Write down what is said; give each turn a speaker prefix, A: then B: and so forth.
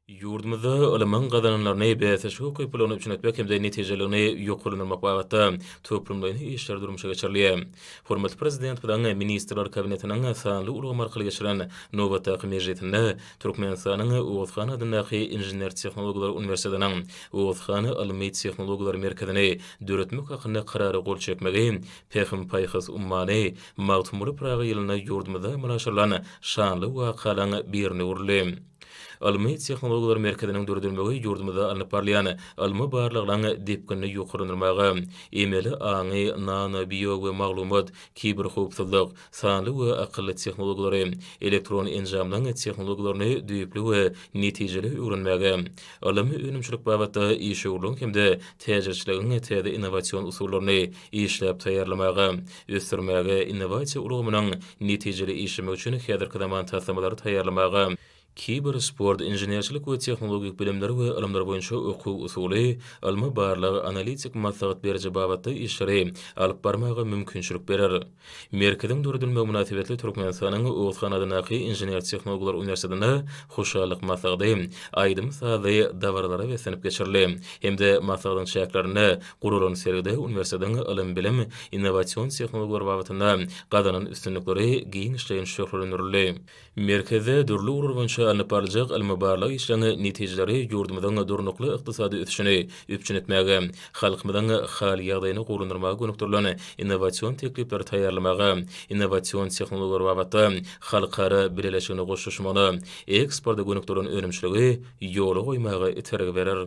A: Ýurdumyzda ylmyň gazananlaryny bäsdeşlik ukyplylygyna üpjün etmek hem-de netijeliligini ýokarlandyrmak babatda toplumlaýyn işler durmuşa geçirilýär. Hormatly Prezidentimiziň Ministrler Kabinetiniň sanly ulgam arkaly geçiren nobatdaky mejlisinde Türkmenistanyň Oguzhan adyndaky Inžener-tehnologlar uniwersitetiniň Oguzhan ylmy-tehnologiýalar merkezini döretmek hakynda Karara gol çekmegi Pähim-paýhas ummany Magtymguly Pyragy ýylynda ýurdumyzda amala aşyrylan şanly wakalaryň birine öwrüldi. Ylmy-tehnologiýalar merkeziniň döredilmegi ýurdumyzda alnyp barylýan ylmy barlaglaryň depginini ýokarlandyrmaga, emeli aňy, nano-, bio we maglumat, kiberhowpsuzlyk, sanly we akylly tehnologiýalary, elektron enjamlaryň tehnologiýalaryny düýpli we netijeli öwrenmäge, ylmy önümçilik babatda işewürligiň hem-de täjirçiligiň täze innowasion usullaryny işläp taýýarlamaga, ösdürmäge, innowasiýa ulgamynyň netijeli işlemek üçin häzirki zaman taslamalary taýýarlamaga, kiber sport, inženerçilik we tehnologik bilimler we ylymlar boýunça okuw-usuly, ylmy-barlag, analitik maslahat beriji babatda işleri alyp barmaga mümkinçilik berer. Merkeziň döredilmegi mynasybetli Türkmenistanyň Oguzhan adyndaky Inžener-tehnologlar uniwersitetinde Hoşallyk maslahady aýdym-sazly dabaralara beslenip geçirildi hem-de maslahatyň çäklerinde Guralan sergide uniwersitetiň ylym-bilim, innowasion tehnologiýalar babatynda gazanan üstünlikleri giňişleýin şöhlelendirildi. Merkezde dürli ugurlar boýunça alnyp barlyjak ylmy-barlag işleriniň netijeleri ýurdumyzyň durnukly ykdysady ösüşini üpjün etmäge, halkymyzyň hal-ýagdaýyny gowulandyrmaga gönükdirilen innowasion teklipleri taýýarlamaga, innowasion tehnologiýalar babatda halkara bileleşigine goşulyşmagyna, eksporta gönükdirilen önümçiligi ýola goýmaga itergi berer.